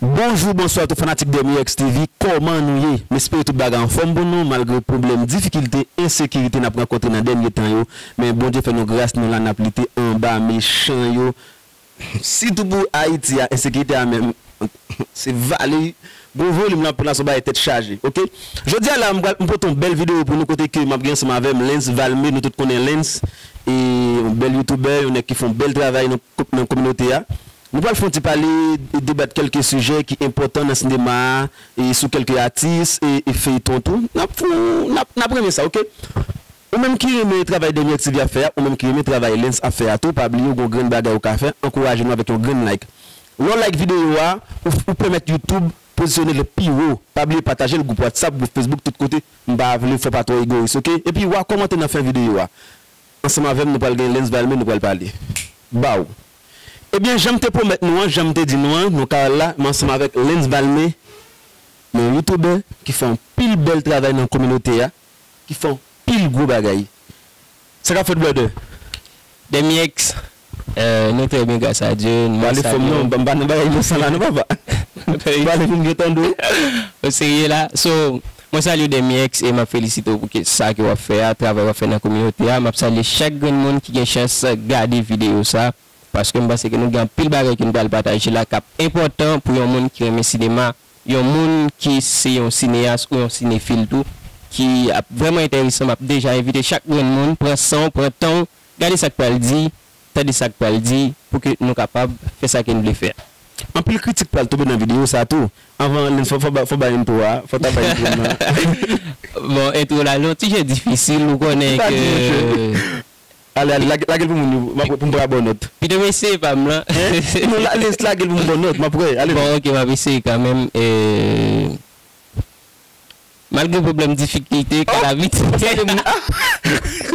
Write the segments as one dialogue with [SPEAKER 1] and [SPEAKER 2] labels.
[SPEAKER 1] Bonjou bonswa tout fanatik Dermyx TV kòman nou ye m espere tout bagay anfòm pou nou malgre pwoblèm difikilte ensekirite nap rankontre nan dènye tan yo men Bondye fè nou gras nou la nap lite anba mechan yo sitou pou ayiti a ensekirite a menm se vale gwo volim lan pran la son bagay tèt chaje ok jodi a la m pral m pote yon bèl video pou nou kote ke map gen ansanm avèm Lens Valme nou tout konnen Lens e yon bèl youtubè yon nèg ki fon bèl travay nan kominote a. Nou pral fon ti pale e debat kelke sijè ki enpotan nan sinema a e sou kelke atis e feyton tou. Nap fon nap nap renmen sa ok. Ou menm ki renmen travay Daniel TV ap fè a, ou menm ki renmen travay Lens ap fè a tou pa bliye ou gon grenn bagay ou ka fè ankouraje nou avèk yon grenn like. Lè w like videyo a ou ou pèmèt YouTube pozisyone l pi wo. Pa bliye pataje l gwoup WhatsApp, gwoup Facebook tout kote. M pa vle fè w pa twò egoyis ok. Epi wa kòmante nan fen videyo a. Ansanm avè m nou pral gen Lens Valme nou pral pale. Baww. Ebyen janm te pwomèt nou an janm te di nou an nou ka al la m ansanm avèk Lens Valmé yon youtoubè ki fè yon pil bèl travay nan kominote a ki fè yon pil gwo bagay sa kap fèt brother? Demyeex
[SPEAKER 2] nou trè byen gras a Dye n Pale fò m non banm pa
[SPEAKER 1] nan bagay inosan la non papa Pale pou m byen tande
[SPEAKER 2] w. Ou serye la so Mwen salye w Demyex e map felisite w pou ke sa ke wap fè a, travay wap fè nan kominote a, map salye chak grenn moun ki gen chans gade videyo sa, paskem panse ke nou gen anpil bagay ke nou pral pataje la kap enpòtan pou yon moun ki renmen sinema, yon moun ki se yon sineyas ou yon sinefil tou, ki ap vrèman enteresan, map deja envite chak grenn moun pran sanw, pran tanw, gade sak pral di. tande sa k pral di pou ke nou kapab fè sa ke n vle fè. Anpil kritik
[SPEAKER 1] pral tonbe nan videyo sa tou. Anvan len fò fò bay entwo a, fò ta bay entwo nan. Bon entwo la
[SPEAKER 2] lon ti jan difisil ou konnen ke. Ou ta di nou ke ale ale
[SPEAKER 1] lage lage l pou moun yo m ap pou m pran bon nòt. Pito m eseye pa m lan.
[SPEAKER 2] Hein? Non ale
[SPEAKER 1] lage l pou m pran nòt m ap wè ale. Bon ok m ap eseye kanmenm.
[SPEAKER 2] Malgre pwoblèm difikilte kadavit. Ohh sa te bon ahh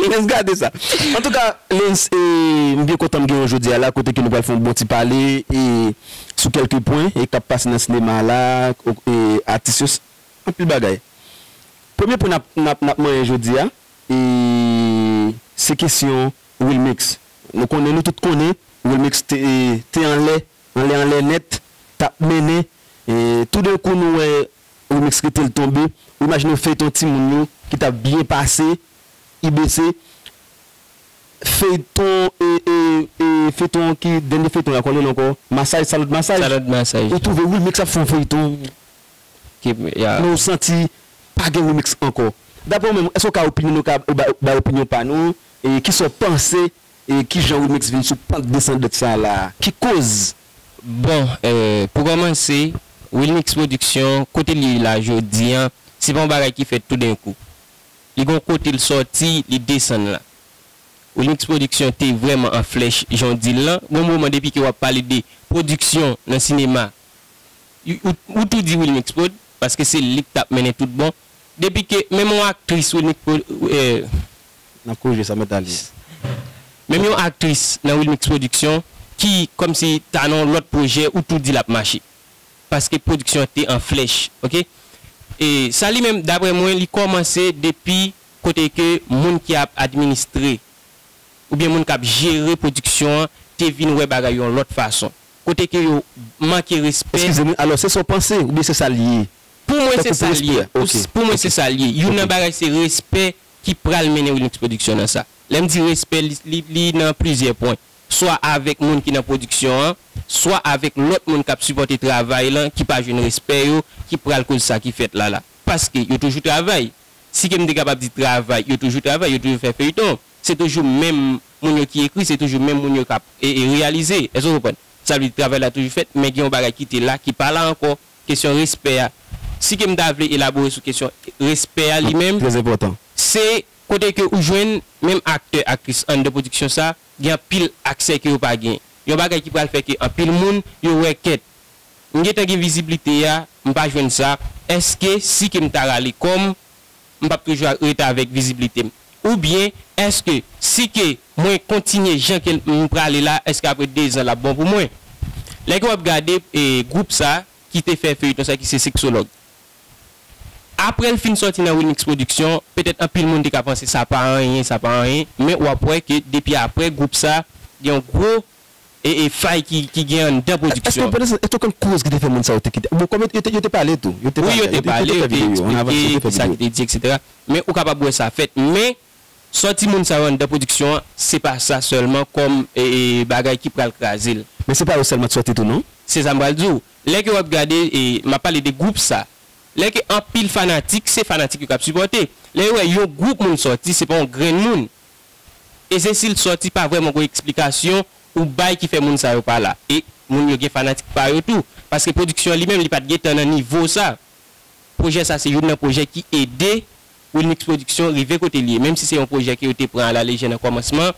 [SPEAKER 2] Lens
[SPEAKER 1] gade sa. Antouka Lens m byen kontan m gen w jodi a la kote ke nou pral fè yon bon ti pale sou kelke pwen k ap pase nan sinema a la atis yo anpil bagay. Premye pwen n ap manyen jodi a se kesyon Wilmix nou konnen nou tout konnen Wilmix te anlè anlè anlè nèt t ap mennen toudenkou nou wè Remix rete l tonbe ou imajine yon feyton timoun yo ki tap byen pase ibc feyton ee feyton ki dènye feyton ya kòmnl ankò masaj salòd masaj ou twouve wilmix ap fè yon feyton men ou santi pa gen remix ankò daprè ou menm èske ou ka opinyonnen ou ka bay opinyon pa nou kisa ou panse E kijan Remix vin sou pant desandant sa la a? Ki koz? Bon,
[SPEAKER 2] pou kòmanse, Wilmix Production, kote li ye la jodi an, se pa yon bagay ki fèt toudenkou. Li gen yon kote l sòti, li desann la. Wilmix Production te vrèman an flèch, jan w di l lan. Gen yon moman depi ke w ap pale de pwodiksyon nan sinema, ou tou di Wilmix Prod, paske se li k t ap mennen tout bon. Depi ke menm yon aktris Wilmix Production nan pwojè
[SPEAKER 1] sa mèt ale.
[SPEAKER 2] Menm yon aktris nan Wilmix Production ki kòmsi ta nan yon lòt pwojè ou tou di lap mache. Paske pwodiksyon an te an flèch ok. E sa li menm daprè mwen li kòmanse depi kote ke moun ki ap administre oubyen moun kap jere pwodiksyon an te vin wè bagay yon lòt fason. Kote ke yo manke respè. Eskize m wi, alò se sa w
[SPEAKER 1] panse oubyen se sa li ye? Pou mwen se sa
[SPEAKER 2] l ye. Pou mwen se sa l ye. Youn nan bagay se respè ki pral mennen Wilmix Production nan sa. Lè m di respè, li nan plizyè pwen. Swa avèk moun ki nan pwodiksyon an, swa avèk lòt moun k ap sipòte travay lan ki pa jwenn respè yo, ki pral koz sa ki fèt la la. Paske yo toujou travay. Si ke m te kapab di travay, yo toujou travay, yo toujou fè feyton. Se toujou menm moun yo ki ekri, se toujou menm moun yo k ap reyalize. Èske w konprann? Sa vle di travay la toujou fèt, men gen yon bagay ki te la ki pa la ankò. Kesyon respè a, si ke m ta vle elabore sou kesyon respè a li menm, se
[SPEAKER 1] kote
[SPEAKER 2] ke ou jwenn menm aktè, aktris anndan pwodiksyon sa gen anpil aksè ke yo pa gen. Yon bagay ki pral fè ke anpil moun yo wè kèt, m gentan gen viziblite a, m pa jwenn sa, èske si ke m ta rale kò m, m p ap toujou an reta avèk viziblite m? Oubyen èske si ke mwen kontinye jan ke m prale la èske apre dezan l ap bon pou mwen? Lè ke w ap gade gwoup sa ki te fè feuilleton sa ki se Sexologue apre l fin sòti nan Wilmix Production petèt anpil moun te ka panse sa pa anyen sa pa anyen men w ap wè ke depi apre gwoup sa gen yon gwo e fay ki gen anndan pwodiksyon. Èske w konn koz ki
[SPEAKER 1] te fè moun sa yo te kite? Bon, kòm yo te pale tou. Wi, yo te pale,
[SPEAKER 2] yo te eksplike ki sa ki te di eksetera. Men, ou kapab wè sa fèt. Men, sòti moun sa yo anndan pwodiksyon an, se pa sa sèlman kòm bagay ki pral kraze l. Men se pa yo sèlman ki sòti
[SPEAKER 1] tou non. Se sa m pral di w.
[SPEAKER 2] Lè ke w ap gade, m ap pale de gwoup sa. Lè ke anpil fanatik, se fanatik yo k ap sipòte. Lè yo wè yon gwoup moun sòti, se pa yon grenn moun. E se sil t sòti pa vrèman gon eksplikasyon ou bay ki fè moun sa yo pa la. E moun yo gen fanatik pa yo tou. Paske pwodiksyon an li menm li pat gentan nan nivo sa. Pwojè sa se youn nan pwojè ki ede Wilmix Production rive kote li ye. Menm si se yon pwojè ke yo te pran a la lejè nan kòmansman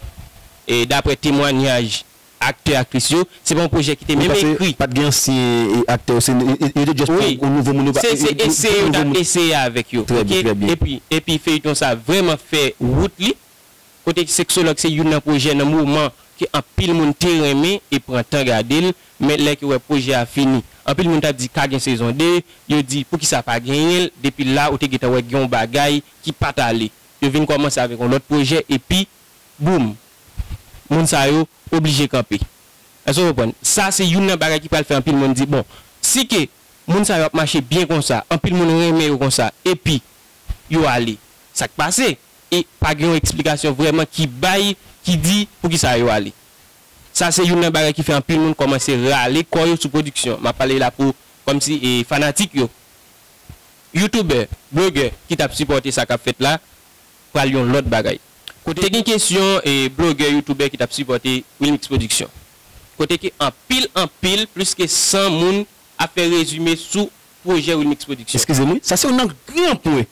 [SPEAKER 2] e daprè temwanyaj aktè aktris yo se pa yon pwojè ki te menm ekri. Wi paske pat gen ansyen
[SPEAKER 1] aktè yo se yo te just pran yon nouvo moun yo pa yo te pran yon nouvo moun. Se eseye yo tap
[SPEAKER 2] eseye avèk yo ok epi epi feyton sa vrèman fè wout li kote sexologue se youn nan pwojè nan moman ke anpil moun te renmen e pran tan gadel men lè ke wè pwojè a fini anpil moun tap di ka gen sezon 2 yo di poukisa pa genyenl depi la ou te gentan wè gen yon bagay ki pat ale yo vin kòmanse avèk yon lòt pwojè epi Boom! Moun sa yo oblije kanpe. Èske w konprann? Sa se youn nan bagay ki pral fè anpil moun di, bon, si ke moun sa yo ap mache byen konsa, anpil moun renmen yo konsa, epi yo ale, sa k pase? E pa gen yon eksplikasyon vrèman ki bay, ki di poukisa yo ale. Sa se youn nan bagay ki fè anpil moun kòmanse rale kò yo sou pwodiksyon. M ap pale la pou, kòm si, fanatik yo. Youtubè, blogè ki t ap sipòte sa k ap fèt la, pral yon lòt bagay. Kote te gen kesyon e blogè youtoubè ki tap sipòte wilmix production. Kote ke anpil anpil plis ke 100 moun ap fè rezime sou pwojè wilmix production. Eskizem wi, sa se yon angle
[SPEAKER 1] gran pwen.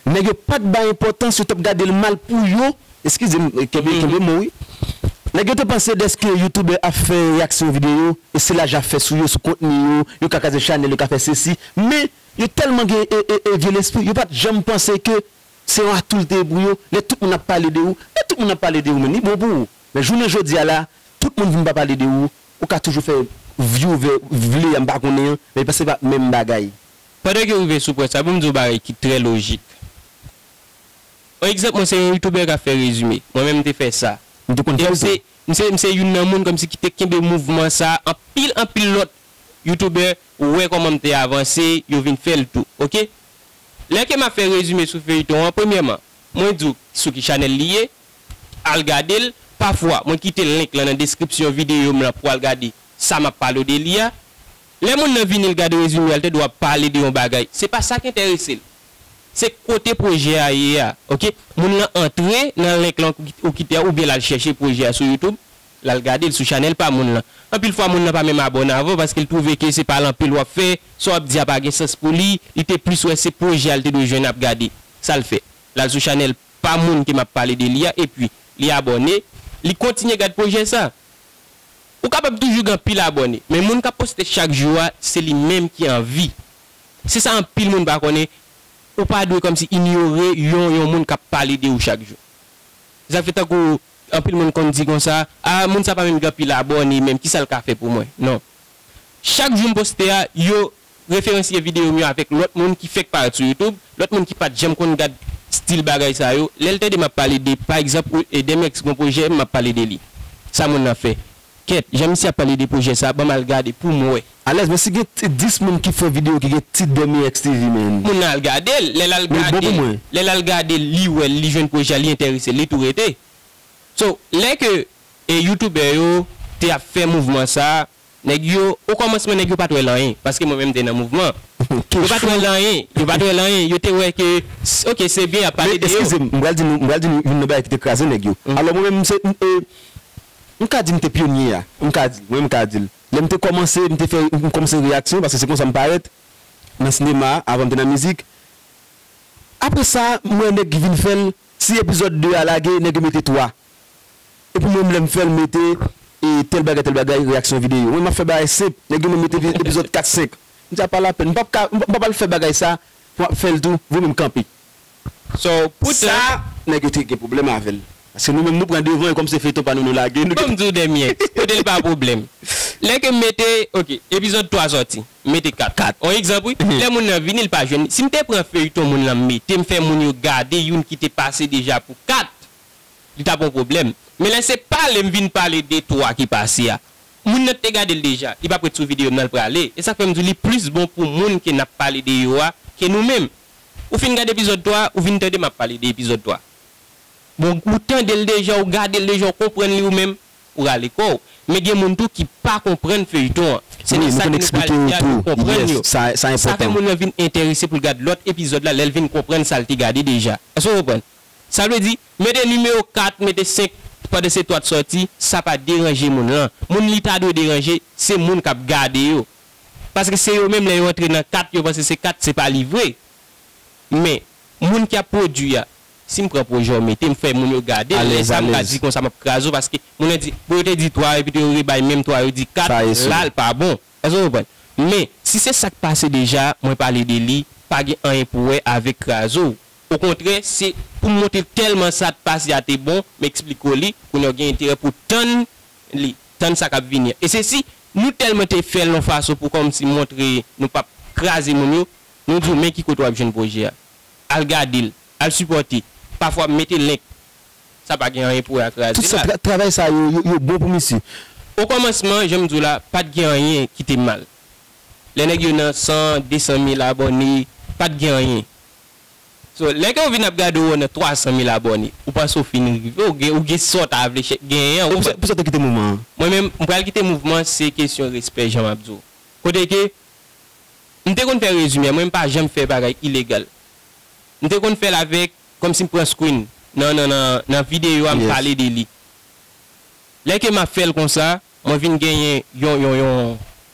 [SPEAKER 1] Nèg yo pat bay enpòtans, yo tap gadel mal pou yo, eskizem kenbe kenbe mo wi. Nèg yo te panse dèske youtoubè ap fè reyaksyon video e se lajan ap fè sou yo, sou kontni yo, yo ka kraze chanèl, yo ka fè sesi. Men yo tèlman gen e e e vye lespri, yo pat janm panse ke Se yon atoul te ye pou yo, lè tout moun ap pale de ou, lè tout moun ap pale de ou menm li bon pou ou, men jounen jodi a la tout moun vin pa pale de ou, ou ka toujou fè vi ou vè vle a m pa konnen an, men pa se pa menm bagay. Pandan ke rive
[SPEAKER 2] sou pwen sa pou m di w bagay ki trè lojik. On egzanp mwen se yon youtoubè kap fè rezime, mwen menm m te fè sa, M te konn fè l tou. M se m se youn nan moun kòmsi ki te kenbe mouvman sa anpil anpil lòt youtoubè wè kòman m te avanse yo vin fè l tou ok Lè ke map fè rezime sou feyton an premyèman mwen diw sou ki chanèl li ye al gadel pafwa mwen kite link lan nan deskripsyon videyo m lan pou al gade sa map palo de li a lè moun nan vini l gad rezime a l te dwa pale de yon bagay se pa sak entèrese l se kote pwojè a ye a ok moun lan antre nan link lan ou kite a oubyen lal chèche pwojè a sou youtube l al gade l sou chanèl pa moun lan. Anpil fwa moun lan pa menm abòne avè w paske l twouve ke se pa l anpil w ap fè, sa w ap di a pa gen sans pou li, li te plis wè se pwojè a l te dwe jwenn ap gade. Sa l fè? L al sou chanèl pa moun ke m ap pale de li a epi li abòne, li kontinye gad pwojè sa. Ou kapab toujou gen anpil abòne, men moun k ap poste chak jou a se li menm ki anvi. Se sa anpil moun pa konnen, ou pa dwe kòmsi inyore yon yon moun k ap pale de ou chak jou. Sa fè tankou Anpil moun konn di konsa, ah moun sa pa menm gen anpil abòne menm kisa l ka fè pou mwen? Non. Chak jou m poste a, yo referensye videyo m yo avèk lòt moun ki fèk parèt sou YouTube, lòt moun ki pat janm konn gad stil bagay sa yo, lè l tande m ap pale de pa egzanp Wilhedemx gon pwojè m ap pale de li, sa moun nan fè. Kèt, jan misye ap pale de pwojè sa, banm al gade poum wè. Alèz men si gen
[SPEAKER 1] 10 moun ki fè video ki gen tit Dèmi Èks TV men. Moun nan al gadel, lè
[SPEAKER 2] lal gadel, lè lal gadel li wèl li jwenn pwojè a li entèresel li tou rete. So lè ke youtubè yo te ap fè mouvman sa, nèg yo okòmansman nèg yo pat wèl anyen, paske mwen menm mte nan mouvman an. Yo pat wèl anyen, yo pat wèl anyen, yo te wè ke ok se byen yap pale de yo. Men eskizem, m pral di nou, m pral
[SPEAKER 1] di nou youn nan bagay ki te kraze nèg yo. Alò mwen menm mse m e M ka di m te pyonye a. M ka di, mwen m ka di l. Lè m te kòmanse, m te fè, m kòmanse reyaksyon, paske se konsa m parèt, nan sinema a, avan m te nan mizik. Apre sa, m wè nèg ki vin fè l, si epizòd 2 a lage, nèg yo mete 3. Epi mwen m lè m fè l, m mete e tèl bagay tèl bagay, reyaksyon videyo. Mwen m ap fè bagay senp, nèg yo menm mete epizòd 4, 5. M di a pa lapèn, m p ap ka, m p ap al fè bagay sa pou m ap fè l tou, vwe mwen m kanpe. So
[SPEAKER 2] pou sa nèg yo te gen pwoblèm
[SPEAKER 1] avèl paske nou menm nou pran devan e kòm se feyton pa nou nou lage nou Banm diw dèmyè kote
[SPEAKER 2] li pa pwoblèm lè kem mete ok epizòd 3 sòti m mete 4 on egzanp wi lè moun nan vini li pa jwenn li sim te pran feyton moun lan m mete m fè moun yo gade youn ki te pase deja pou 4 li tap on pwoblèm men lè se pale m vin pale de 3 ki pase a moun nan t te gadel deja li pap ret sou videom nan l prale esak fèm diw li plis bon pou moun ke nap pale de yo a ke nou menm Ou fin gad epizòd 3 ou vin tande map pale de epizòd 3 bon ou tandel deja ou gadel deja ou konprann li ou menm ou rale kòw men gen moun tou ki pa konprann feyton an se de sa ke nou pral di a yo konprann yo sa
[SPEAKER 1] fè moun nan vin
[SPEAKER 2] enterese poul gad lòt epizòd la lèl vin konprann sal te gade deja èske ou konprann sa vle di mete nimewo 4 mete 5 pandan se 3 t sòti sa pa deranje moun lan moun li ta dwe deranje se moun kap gade yo. paske se yo menm lè yo antre nan kat yo panse se kat se pa li vre men moun ki ap pwodwi a si m pran pwojè w mete m fè moun yo gade lè sa m ka di konsa m ap kraze w paske moun yo di bon yo te di 3 epi tou yo rebay menm 3 yo di 4 la l pa bon èske w konprann men si se sa k pase deja mwen pale de li pa gen anyen pou wè avèk kraze w okontrè se pou m montre w tèlman sa t pase a te bon m eksplike w li kounye a w gen enterè pou w tann li, tann sa k ap vini an. E se si nou tèlman te fè l yon fason pou kòmsi montre nou p ap kraze moun yo, nou di w men ki kote w ap jwenn pwojè a. Al gade l, al sipòte. Pafwa m mete link. Sa pa gen anyen pou wè ak raze l la. Tout travay sa yo,
[SPEAKER 1] yo bon pou misye. Okòmansman,
[SPEAKER 2] jan m di w la, pa t gen anyen ki te mal. Lè nèg yo nan san, desan mil abòne, pa t gen anyen. So lè ke ou vin ap gade ou nan 300 mil abòne ou panse ou fin rive ou gen ou gen sa ou ta vle chè genyen an ou fè. Pousa ou te kite mouvman
[SPEAKER 1] an? Mwen menm m pral kite
[SPEAKER 2] mouvman se kesyon respè jan map di w. Kote ke m te konn fè rezime mwen m pa janm fè bagay ilegal. M te konn fè l avèk kòmsi m pran screen nan nan nan videyo a m pale de li. Lè ke map fè l konsa Mwen vin genyen yon yon yon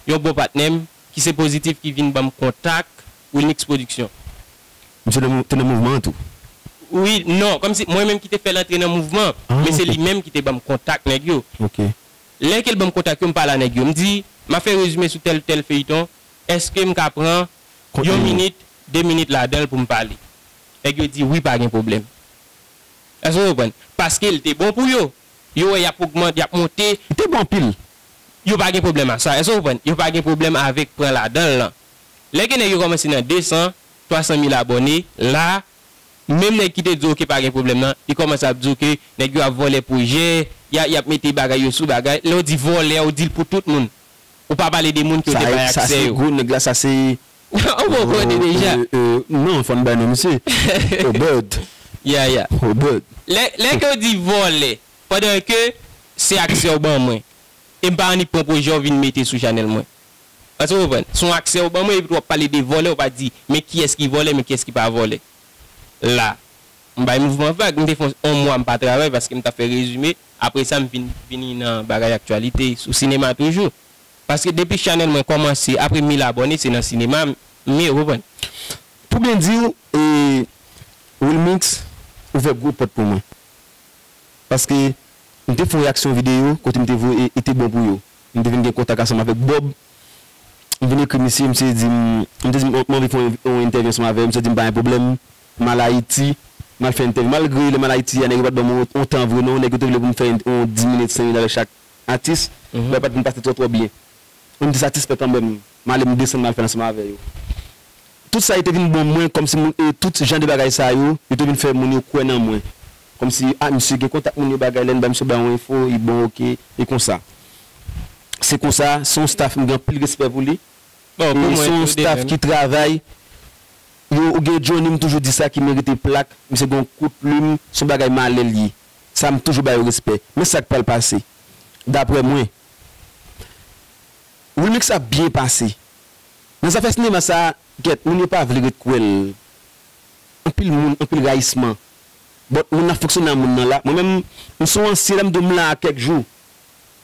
[SPEAKER 2] yon bon patnè m ki se Positif ki vin ban m kontak Wilmix Production. Misye nan
[SPEAKER 1] te nan mouvman an tou? Wi,
[SPEAKER 2] non, kòm si mwen menm ki te fè l antre nan mouvman, men se li menm ki te ban m kontak nèg yo. Lè ke l ban m kontak yo, m pale a nèg yo. M di, m ap fè rezime sou tèl tèl feyiton, èske m ka pran yon minit, de minit ladan l pou m pale? Nèg yo di wi pa gen pwoblèm. Èske w konprann? Paske l te bon pou yo. Yo wè yap ogman, yap monte. Li te bon anpil.
[SPEAKER 1] Yo pa gen
[SPEAKER 2] pwoblèm ak sa. Èske w konprann? Yo pa gen pwoblèm avèk pran ladan l lan. Lè gen nèg yo kòmanse nan 200, 300 mil abòne, la, menm nèg ki te di w ke pa gen pwoblèm nan, li kòmanse ap di w ke nèg yo ap vòlè pwojè, ya, yap mete bagay yo sou bagay. Lè w di vòlè, w di l pou tout moun. Ou pa pale de moun ke w te bay aksè yo. Sa se gwo nèg la, sa
[SPEAKER 1] se Ou poko konnen
[SPEAKER 2] deja. Non fòn
[SPEAKER 1] bay non misye. Oberd. Yeah yeah.
[SPEAKER 2] Oberd.
[SPEAKER 1] Lè ke w di
[SPEAKER 2] vòlè pandan ke se aksè w ban mwen e m pa annik pran pwojè w vin mete sou chanèl mwen. Èske w konprann? Se yon aksè w ban mwen epi w ap pale de vòlè w pa di men kiyès ki vòlè men kiyès ki pa vòlè. La m bay mouvman vag. M te fè yon mwa m pa travay paske m t ap fè rezime. Apre sa m vin vini nan bagay aktyalite sou sinema toujou. Paske depi chanèl mwen kòmanse apre mil abòne se nan sinema mye reprann. Pou byen diw
[SPEAKER 1] Wilmix ouvè gwo pòt pou mwen paske m te fè yon reyaksyon videyo kote m te voye e te bon pou yo m te vin gen kontak ansanm avèk Bob m vin ekri misye misye di m m te di m anvi fè yon entèvyou ansanm avè yo misye di m pa gen pwoblèm m al Ayiti m al fè entèvyou malgre lè m al Ayiti a nèg yo pat ban m yon tan vre non nèg yo te vle pou m fè yon 10 minit 5 minit avèk chak atis mwen pat vin pase twò twò byen menm ti satisfè kanmèm m ale m desann m al fè l ansanm avè yo tout sa yo te vin bon mwen kòmsi moun e tout jan de bagay sa yo yo te vin fè moun yo kwè nan mwen kòmsi a misye gen kontak moun yo bagay lè n bay misye bay yon enfo li bon ok e konsa se konsa se yon staff m gen anpil respè pou li e se yon staff ki travay yo ou gen Johnny m toujou di sa ki merite plak misye gen yon kout plim se yon bagay malè l ye. sa m toujou ba yo respè men sak pral pase daprè mwen Wilmix ap byen pase nan zafè sinema sa gèt moun yo pa vle ret kwè l anpil moun anpil rayisman but moun nan fonksyone a moun nan la mwen menm m son ansyen la m di w m la a kèk jou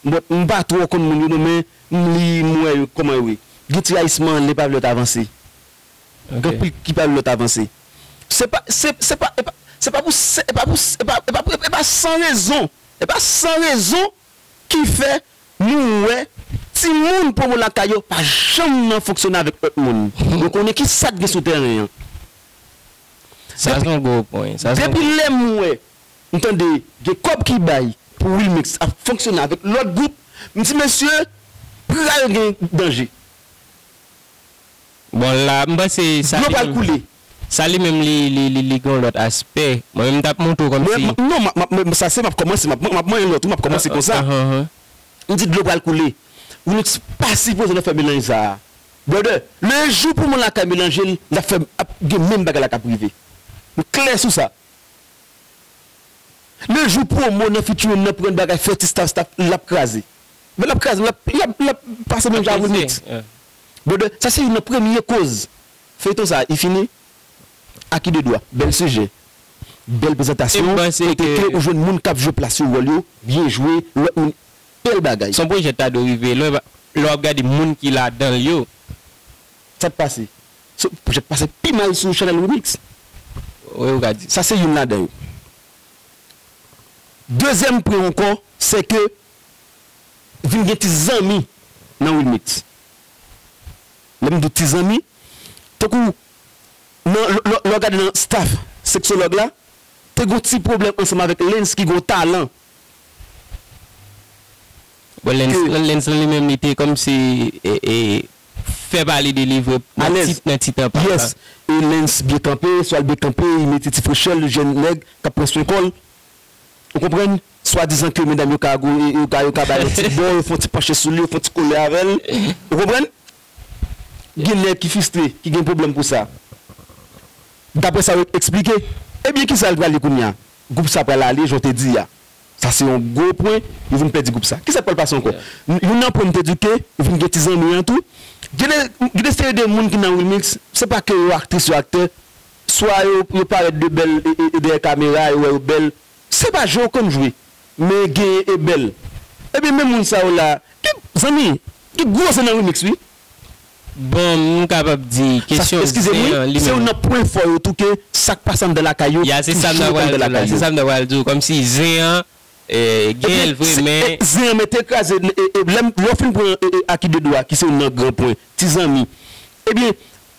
[SPEAKER 1] but m pa twò konn moun yo non men m li m wè yo kòman yo ye gen ti rayisman lè pa vle lòt avanse Gen pri ki pa yon lòt avanse. Se pa, se, se pa, e pa, se pa pou se, e pa pou se, e pa, e pa pou, e pa san rezon, e pa san rezon ki fè nou wè timoun pwomo lakay yo pa janm nan fonksyone avèk lòt moun. Nou konnen ki sa k gen sou tèren an.
[SPEAKER 2] Sa se yon gwo pwen, sa se yon gwo pwen. Depi lè m wè,
[SPEAKER 1] m tande gen kòb ki bay pou Wilmix ap fonksyone avèk lòt gwoup, m di mesye, pral gen danje.
[SPEAKER 2] Bon la m panse sa Dlo li pral menm koule.
[SPEAKER 1] sa li menm li
[SPEAKER 2] li li li gen yon lòt aspè. Mwen menm m tap montre w kòm Mwen si m non m ap m sa
[SPEAKER 1] se m ap kòmanse m ap manyen lòt wi m ap kòmanse kon sa. Ahanhan. M di dlo pral koule. Wi nou t pa sipoze nan fè melanj sa a. Brother, le jou pou moun lakay melanje l n ap fè ap gen menm bagay la k ap rive. M klè sou sa. Le jou promo nan featuring nan pran bagay fè ti staff staff l ap kraze. Men l ap kraze l ap l ap l ap pase menm jan ak remix. Brother sa se youn nan premye koz feyton sa i fini a ki de dwa bèl sijè bèl prezantasyon kote ke ou jwenn moun kap jwe plas yo wòl yo byen jwe lòt moun bèl bagay. Son projè ta dwe rive
[SPEAKER 2] lwen lè wap gade moun ki ladanl yo. Sa t
[SPEAKER 1] pase so projè t pase pi mal sou chanèl remix sa
[SPEAKER 2] se youn ladan yo
[SPEAKER 1] dezyèm pwen ankò sè ke Vin gen ti zanmi nan wilmix. Lè m di w ti zanmi, tankou nan lè w gade nan staff seksològ la, te gen yon ti pwoblèm ansanm avèk Lens ki gen yon talan.
[SPEAKER 2] Bon Lens lan li menm li te kòmsi fè pale de li vre nan ti tan pal la. E
[SPEAKER 1] Lens byen kanpe, Swal byen kanpe, li mete ti frechè l, jèn nèg k ap pran swen kò l. Ou konprann? swadizan ke medam yo ka gou, yo ka, yo ka bay yon ti bo, yo fon ti panche sou li, yo fon ti kole avè l. Ou konprann? Gen nèg ki fistre, ki gen pwoblèm pou sa. Daprè sa yo eksplike. Ebyen kisa l pral ye kounye a? Gwoup sa pral ale jan w te di a. Sa se yon gwo pwen, yo vin pèdi gwoup sa. Kisa k pral pase ankò? Youn nan pwen m te di w ke vin gen ti zanmi an tou. Gen de, gen de seri de moun ki nan Wilmix, se pa ke yo aktris, yo aktè. Swa yo, yo parèt de bèl e, e, e dèyè kamera, yo wè yo bèl, Se pa jwe ou konn jwe men genyen e bèl ebyen men moun sa yo la gen zanmi gen gwo zen nan remix wi. Bon
[SPEAKER 2] m kapab di kesyon zen an li menm. Eskize m wi, se youn nan
[SPEAKER 1] pwen fò yo tou ke sak pase anndan lakay yo toujou rete anndan lakay
[SPEAKER 2] yo. Ya se sa m ta pral di w la, kòmsi zen an genyen l vre men. Ebyen zen an mete
[SPEAKER 1] kraze lè w fin pran Aki 2 dwa ki se youn nan gran pwen, ti zanmi ebyen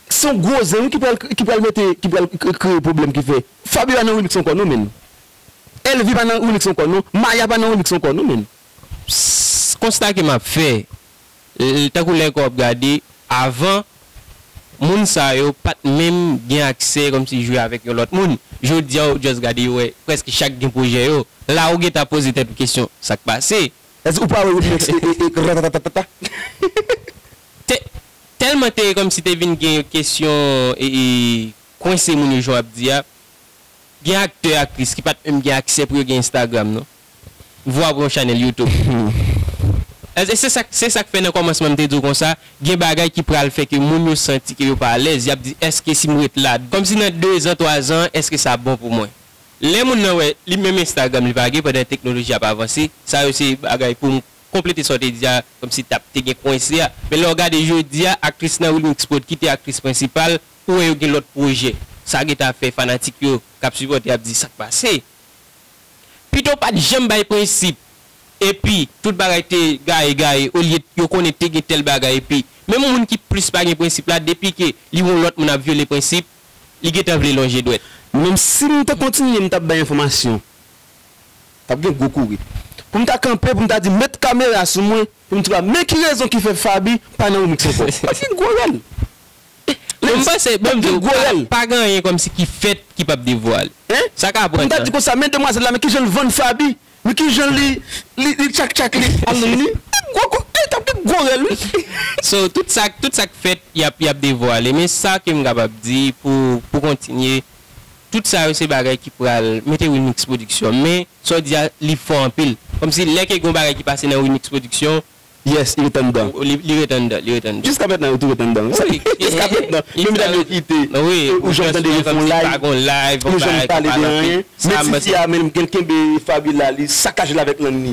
[SPEAKER 1] Se yon gwo zen wi ki pral ki pral mete ki pral kreye pwoblèm ki fè Fabiola nan remix ankò non menn Elvie pa nan remix ankò non Maya pa nan remix ankò non menn. Pss konsta
[SPEAKER 2] ke map fè l tankou lè ke wap gade avan moun sa yo pat menm gen aksè kòmsi jwe avèk yon lòt moun jodia ou just gade yo wè prèske chak gen pwojè yo la ou gentan poze tèt ou kesyon sak pase. Èske ou pa wè remix
[SPEAKER 1] e e e ratatatatata.
[SPEAKER 2] Te telman te komsi te vin gen yon kesyon e kwense moun yo jan wap di a. Gen aktè aktris ki pat menm gen aksè pou yo gen Instagram non. Vwa pou yon chanèl YouTube. E se sak se sak fè nan komansman m te di w konsa gen bagay ki pral fè ke moun yo santi ke yo pa alèz yap di eske si m ret la komsi nan 2 zan 3 zan eske sa bon pou mwen. Lè moun nan wè li menm Instagram li pa gen pandan teknoloji ap avanse sa yo se bagay pou konplete sa w te di a kòmsi t ap te gen kwense a men lè w gade jodi a aktris nan Wilmix Prod ki te aktris prensipal ou wè yo gen lòt pwojè sa gen ta fè fanatik yo k ap sipòte ap di sa k pase pito pa t janm bay prensip epi tout bagay te gaye gaye olye yo konnen te gen tèl bagay epi menm moun ki plis pa gen prensip la depi ke li wè yon lòt moun ap vyole prensip li gen tan vle lonje dwèt. Menm si m te
[SPEAKER 1] kontinye m t ap bay enfòmasyon T ap gen gwo kouri. Pou m ta kanpe, pou m ta di met kamera sou mwen, pou m t va men ki rezon ki fè Faby pa nan remix ankò. T ap gen gwo rèl. Bon
[SPEAKER 2] m panse, bon m di w, pa gen anyen kòmsi ki fèt ki p ap devwale. Sa ka pran tan. Pou m ta di konsa men demwazèl la,
[SPEAKER 1] men kijan l vann Faby, men kijan li li tchak tchak li al nan ni. T ap gen gwo kou, t ap gen gwo rèl wi. So tout
[SPEAKER 2] sa, tout sa k fèt y ap, y ap devwale. Men sa ke m kapab di pou, pou kontinye. Tout sa yo se bagay ki pral mete Winix production men sa w di a li fò anpil kòmsi lè ke gon bagay ki pase nan Winix production Yes li ret
[SPEAKER 1] anndan. Li ret anndan li ret anndan. Jiska mètnan yo tou ret anndan wi wi jiska mètnan menm dat yo kite ou janm tande
[SPEAKER 2] yo fè
[SPEAKER 1] yon live ou janm pale de anyen menm tifi a menm gen l kenbe Fabiola li sakajel avèk lang ni.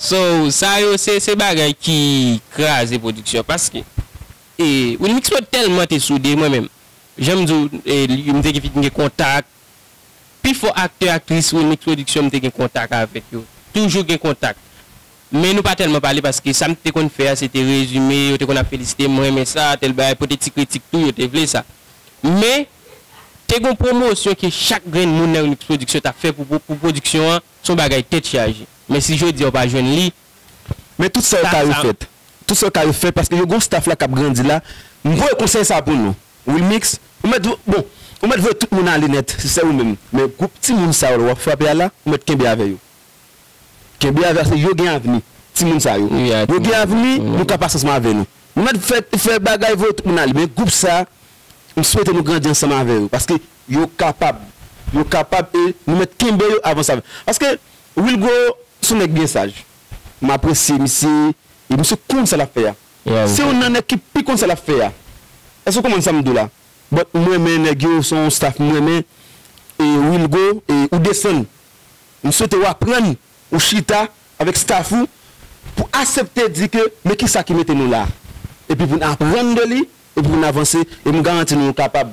[SPEAKER 1] So sa
[SPEAKER 2] yo se se bagay ki kraze production paske e Wilmix mwen telman te soude mwen menm janm diw m te fin gen kontak pi fò aktè aktris Wilmix production m te gen kontak avèk yo toujou gen kontak men nou pa telman pale paske sam te konn fè a se te rezime yo te konn ap felisitem m renmen sa tèl bagay pote ti kritik tou yo te vle sa men te gon pwomosyon ke chak grenn moun nan Wilmix production tap fè pou production an Son bagay tèt chaje. Men si jodi a ou pa jwenn li. Men tout sa
[SPEAKER 1] yo ka refèt. Tout sa yo ka refèt paske yo gon staff la kap grandi la. M voye konsèy sa pou nou. Wilmix, ou mèt bon, ou mèt voye tout moun ale nèt si se ou menm. Men gwoup timoun sa yo wap frape a la, ou mèt kenbe avè yo. Kenbe avè paske yo gen avni. Timoun sa yo. Yo gen avni, nou ka pas ansanm avè nou. Nou mèt fè bagay voye tout moun ale. Men gwoup sa, m swete nou grandi ansanm avè yo. Paske Yo kapab. Yo kapab e nou mèt kenbe yo avan sa. Paske Wilgro se yon nèg byen saj. M apresye misye e misye konn sa l ap fè a. Se youn nan nèg ki pi konn sa l ap fè a. Èske w konprann sa m di w la? But m renmen nèg yo, se yon staff m renmen. E Wilgro, e ou desann. M swete w aprann, ou chita avèk staff ou pou asepte di ke men kisa ki mete nou la. Epi pou n aprann de li, epi pou n avanse. E m garanti nou nou kapab.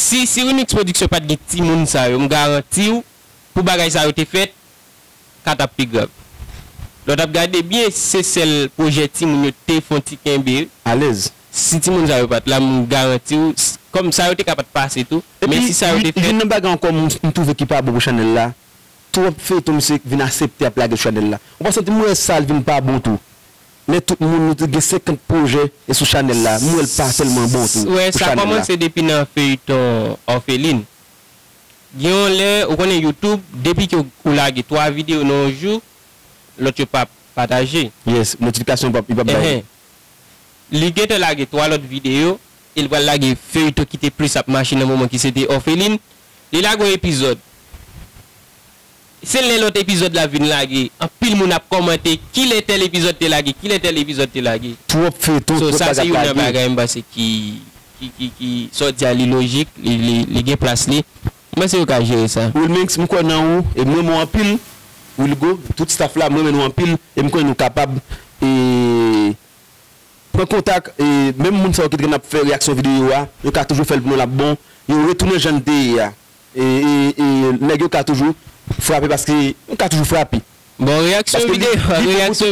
[SPEAKER 2] Si si Rimix production pat gen timoun sa yo m garantiw pou bagay sa yo te fèt ka tap pi grav lè w tap gade byen se sèl pwojè timoun yo te fon ti kenbe alèz
[SPEAKER 1] si timoun sa yo pat
[SPEAKER 2] la m garantiw kòm sa yo te ka pat pase tou men Epi si sa yo te fèt. youn nan bagay ankò m
[SPEAKER 1] twouve ki pa bon pou chanèl la twòp feyton misye vin asepte ap lage sou chanèl la ou pa santi m wè sa l vin pa bon tou. Men tout moun nou t gen 50 projè e sou chanel la m wel pa telman bon tou Swè pou sa chanel la. kòmanse depi
[SPEAKER 2] nan feuilleton orpheline. Gen yon lè ou konnen youtube depi ke ou lage 3 video nan yon jou lòt yo pap pataje. Yes notification
[SPEAKER 1] pap li pap bay. Enhen Li
[SPEAKER 2] gentan lage 3 lòt video e li pral lage feuilleton ki te plis ap mache nan moman ki se te orpheline. Li lage yon epizòd. Se lè lòt epizòd la vin lage anpil moun ap kòmante kilè tèl epizòd te lage kilè tèl epizòd te lage. Twòp feyton so twòp
[SPEAKER 1] sa bagay se ap youn nan lage. bagay
[SPEAKER 2] m panse ki ki ki ki sa w di a li lojik li li li gen plas li m panse yo ka jere sa. Wilmix m kwè nan ou
[SPEAKER 1] e m renmen w anpil Wilgo tout staff la m renmen nou anpil e m konnen nou kapab e pran kontak e menm moun sa yo ki t gen ap fè reyaksyon videyo a yo ka toujou fè l pou nou l ap bon yo retounen jan l te ye a Nèg yo ka toujou frape paske yo ka toujou frape. Bon
[SPEAKER 2] reyaksyon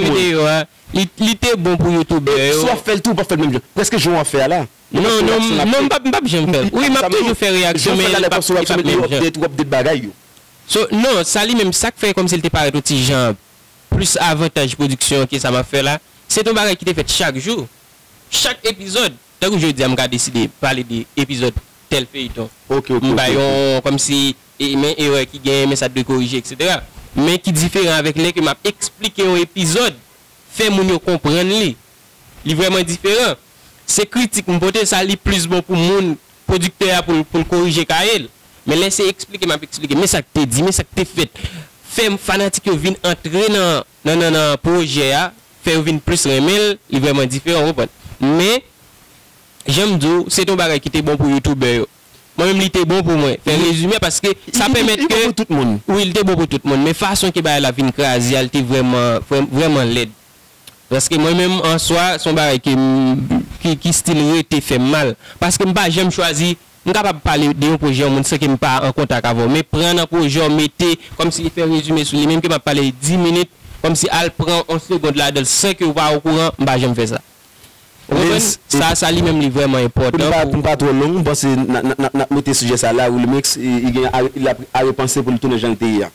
[SPEAKER 2] videyo a li te bon pou youtubè yo. Si wap fèl tou ou pap fèl
[SPEAKER 1] menm jan prèske jan wap fè a la. Non non non
[SPEAKER 2] m pap janm fèl. Wi map toujou fè reyaksyon men li pap menm jan. Yo update ou update
[SPEAKER 1] bagay yo. So non
[SPEAKER 2] sa li menm sak fè kòmsi li te parèt yon ti jan plis avantaj pwodiksyon ke sa map fè la se t yon bagay ki te fèt chak jou chak epizòd. Tankou jodia m ka deside pale de epizòd tèl feyton Ok ok m ok bay ok.
[SPEAKER 1] yon kòm si
[SPEAKER 2] e men erè ki genyen men sa t dwe korije eksetera men ki diferan avèk lè ke m ap esplike yon epizòd fè moun yo konprann li li vrèman diferan se kritik m pote sa li plis bon pou moun pwodiktè a pou l pou l korije kaye l men lè se esplike m ap esplike men sa k te di men sa k te fèt fè fanatik yo vin antre nan nan nan pwojè a fè yo vin plis renmen l, li vrèman diferan ou konprann. Men, jan m di w, se te yon bagay ki te bon pou youtubè yo. Mwen menm li te bon pou mwen, fè rezime a paske sa pèmèt ke. Li bon pou tout moun. Wi, li te
[SPEAKER 1] bon pou tout moun,
[SPEAKER 2] men fason ke bagay la vin kraze a li te vrèman, vrèman lèd. Paske mwen menm an swa, se yon bagay ke m, ki stil rete fè m mal. Paske m pa janm chwazi. M kapab pale de yon pwojè yon moun san ke m pa an kontak avè w, men pran nan pwojè w, mete, kòmsi li fè rezime sou li, menm ke m ap pale di minit, kòmsi al pran yon segond ladan l san ke ou pa okouran, m pa janm fè sa. Ou konprann? Sa, sa li menm li vrèman enpòtan pou. Pou n pa twò long, m
[SPEAKER 1] panse n ap, n ap mete sijè sa la. Wilmix, li gen a, li ap a repanse pou li tounen jan li te ye a.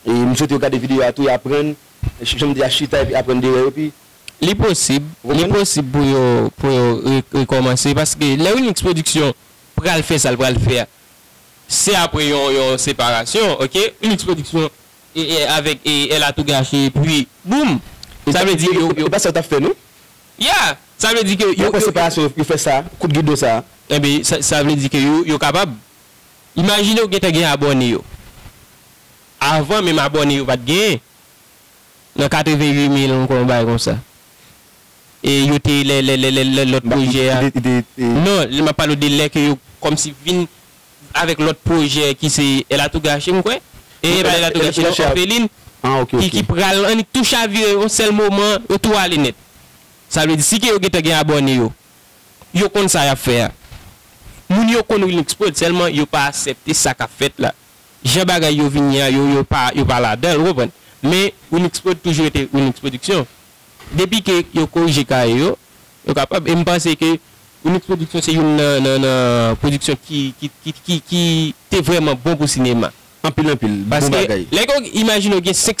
[SPEAKER 1] E m swete yo gade videyo a tou, y aprann, jan m di a, chita epi aprann de erè yo, epi Li posib,
[SPEAKER 2] li posib pou yo pou yo rekòmanse paske lè Wilmix production pral fè sa l pral fè a se apre yon yon separasyon ok Wilmix production avèk El a tou gache epi boom sa vle di yo yo
[SPEAKER 1] ya
[SPEAKER 2] sa vle di ke yo yo yo fè sa
[SPEAKER 1] kout gidon sa enben sa vle
[SPEAKER 2] di ke yo yo kapab imajine ou gentan gen abòne yo avan menm abòne yo pat gen. nan 88 mil ankò yon bagay konsa e yo te lè lè lè lè lòt pwojè a non lè map pale w de lè ke yo kòmsi vin avèk lòt pwojè ki se El Atougache m kwè e e pa El Atougache non Òfelin ki ki pral annik tou chavire yon sèl moman yo tou ale nèt sa vle di si ke yo gentan gen abòne yo yo konn sa yap fè a moun yo konn Wilmix Prod sèlman yo pa asèpte sa kap fèt la. Jan bagay yo vini a yo yo pa yo pa ladan l ou konprann. Men Winixprod toujou rete Winix Production. Depi ke yo korije kaye yo, yo kapab e m panse ke Winix Production se youn nan nan nan production ki ki ki ki ki te vrèman
[SPEAKER 1] bon pou
[SPEAKER 2] sinema. Anpil anpil. Bon bagay. Paske lè
[SPEAKER 1] gen yon
[SPEAKER 2] imajine ou gen 5.